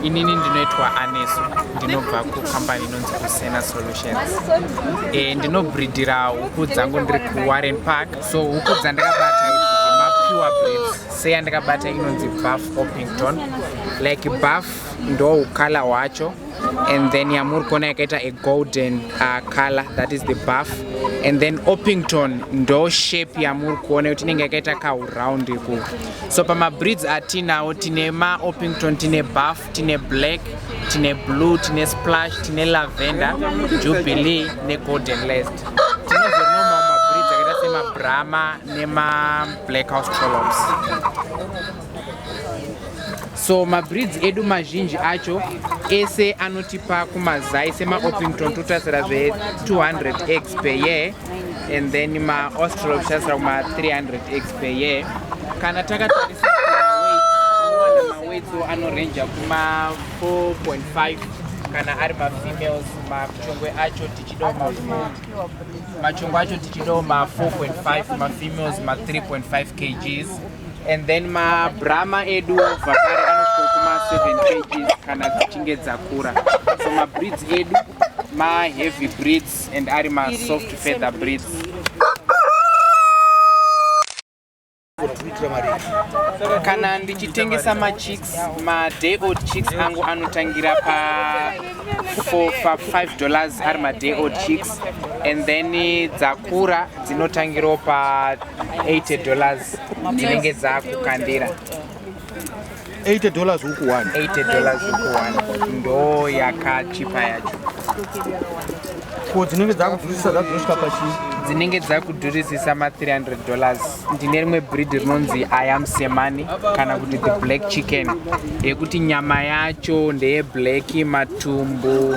Inini ndinoitwa Anesu, ndinobva kucompany inonzi Kusena Solutions. E, ndinobridira huku dzangu ndiri kuWarren Park. So huku dzandakabata mapure breeds seyandakabata inonzi Buff Orpington. Like buff ndo ukala hwacho and then yamuri kuona yakaita a golden uh, color that is the buff and then Orpington ndo shape yamuri kuona kuti inenge yakaita kahuround ku so pamabreeds atinawo tine maopington tine buff tine black tine blue tine splash tine lavender jubilee negolden last tinozonomawo mabreeds akaita semabrama nemablack house trollops so mabreeds edu mazhinji acho ese anotipa kumazai semaopington totarisira zve 200 eggs per year and then maostral kuchasira kuma 300 x per year kana takatarisa mawetso anorenja kuma 4.5 kana ari mafemales machongwe acho tichidawo machongwe acho tichidawo ma 4.5 mafemales ma 3.5 kgs and then mabrama edu vakare anosvika kuma 7 kgs kana dzichinge dzakura so mabreeds edu maheavy breeds and ari ma soft feather breeds kana ndichitengesa machicks maday old chicks angu anotangira pa for pa 5 dollars ari maday old chicks and then dzakura dzinotangirawo pa 80 dollars dzinenge dzakukandira 80 dollars huku 1 80 dollars huku 1 ndo yakachipa yacho ko dzinenge dzakudhurisisa dzakudhurisika pachii dzinenge dzakudhurisisa ma300 dollars ndine rimwe breed rinonzi iam semani kana kuti the black chicken yekuti nyama yacho ndeye black matumbu